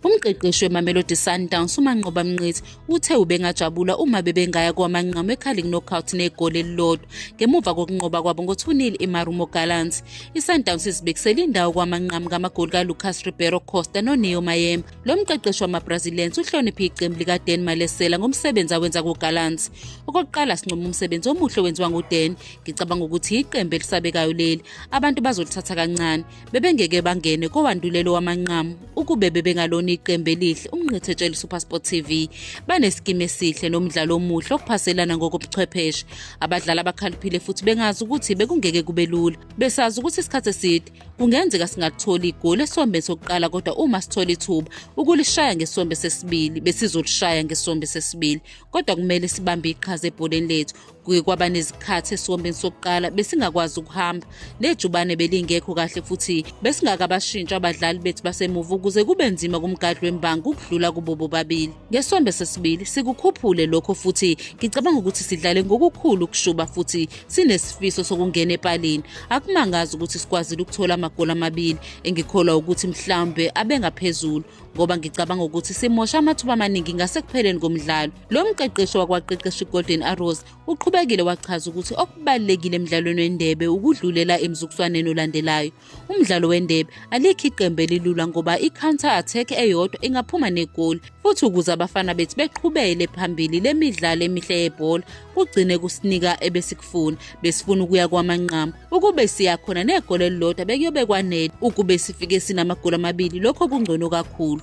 Umqeqeshi weMamelodi Sundowns uManqoba Mnqithi uthe ubengajabula uma bebengaya kwamanqamu eCarling Knockout negoli elilodwa ngemuva kokunqoba kwabo ngo-2-0 eMarumo Gallants. ISundowns izibekisele indawo kwamanqamu ngamagoli kaLucas Ribeiro Costa noNeo Mayem. Lo mqeqeshi wamaBrazilians uhloniphe iqembu likaDen Malesela ngomsebenzi awenza kuGallants. Okokuqala sincoma umsebenzi omuhle owenziwa nguDen. Ngicabanga ukuthi iqembu elisabekayo leli. abantu bazolithatha kancane bebengeke bangene kowandulelo wamanqamu ukube bebengalona iqembu elihle umnqithetshela usupersport tv banesikimu esihle nomdlalo omuhle okuphaselana ngokobuchwepheshe abadlali abakhaliphile futhi bengazi ukuthi bekungeke kube lula besazi ukuthi isikhathi eside kungenzeka singakutholi igoli esombeni sokuqala kodwa uma sithola ithuba ukulishaya ngesombe sesibili besizolishaya ngesombe sesibili kodwa kumele sibambe iqhaza ebholeni lethu Kuye kwaba nezikhathi esiwombeni sokuqala besingakwazi ukuhamba nejubane belingekho kahle futhi besingakabashintsha abadlali bethu basemuva ukuze kube nzima kumgadli wembangi ukudlula kubo bobabili. Ngesonto sesibili sikukhuphule lokho futhi ngicabanga ukuthi sidlale ngokukhulu ukushuba futhi sinesifiso sokungena epalini. Akumangazi ukuthi sikwazile ukuthola amagoli amabili engikholwa ukuthi mhlawumbe abengaphezulu ngoba ngicabanga ukuthi simosha amathuba amaningi ngasekupheleni komdlalo lo mqeqeshi wakwaqeqesha igolden arrows uqhubekile wachaza ukuthi okubalulekile emdlalweni wendebe ukudlulela emzukuswaneni olandelayo umdlalo wendebe alikho iqembu elilula ngoba i-counter attack eyodwa ingaphuma negoli futhi ukuze abafana bethu beqhubele phambili le midlalo emihle yebhola kugcine kusinika ebesikufuna besifuna ukuya kwamanqamu Ukube siya khona negoli elilodwa bekuyobekwanele. Ukube sifike sinamagoli amabili lokho kungcono kakhulu.